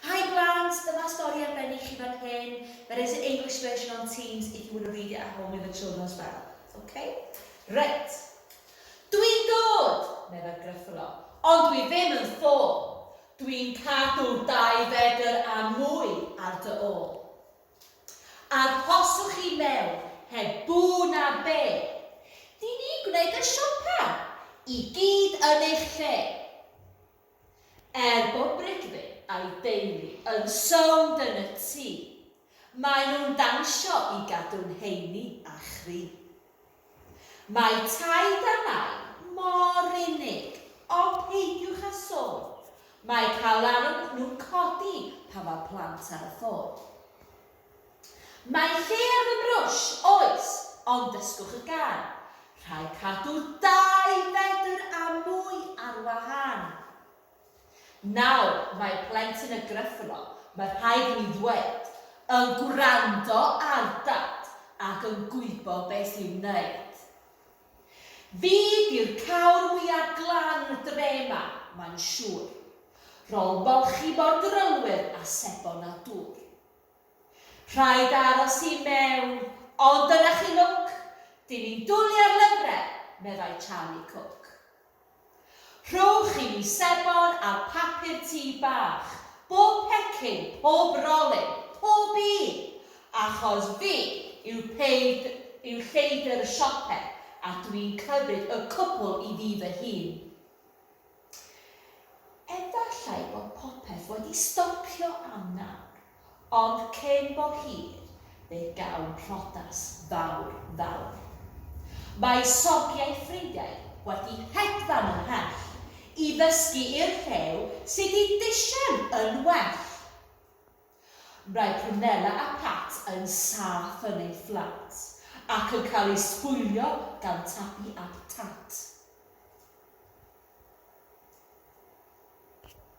Hi blant, dyma stori arbennig chi fan hyn, there is an English version on Teams if you want to read it at home with the children as well. Ok? Reit. Dwi'n dod, meddai'r Gruffalo, ond dwi ddim yn ffôl. Dwi'n cadw dau fedr a mwy ar dy ôl. Arhoswch i mewn, heb bŵ na be. Dyn ni'n gwneud y siopa, i gyd yn eich lle. Er bod Brigfydd a'i deulu yn sownd yn y tŷ, maen nhw'n dawnsio i gadw'n heini a chryf. Mae taid a nain mor unig, ond peidiwch â sôn, mae cael arogl nhw'n codi pan mae plant ar y ffôn. Mae lle ar fy mrwsh, oes, ond dysgwch y gân. Rhaid cadw dau fedr a mwy ar wahân. Nawr, mae plentyn y Gruffalo, mae rhaid i mi ddweud, yn gwrando ar Dad ac yn gwybod beth i'w wneud. Fi 'di'r cawr mwya glan y dre 'ma, mae'n siŵr. Rôl molchi mor drylwyr a sebon a dŵr. Rhaid aros i mewn. Ond dyna chi lwc, dyn ni'n dwlu ar lyfrau, meddai Charlie Cook. Rhowch i mi sebon a papur tŷ bach, bob pecyn, pob rolyn, pob un, achos fi yw peid- yw lleidr y siope a dwi'n cymryd y cwpl i fi fy hun. Efallai bod popeth wedi stopio am nawr, ond cyn bo hir fe gawn priodas fawr, fawr. Mae sogiau ffrindiau wedi hedfan ymhell i ddysgu i'r rhew sydd i disian yn well. Mae Prunella a Pat yn saff yn eu fflat ac yn cael eu sbwylio gan Tabi a Tat.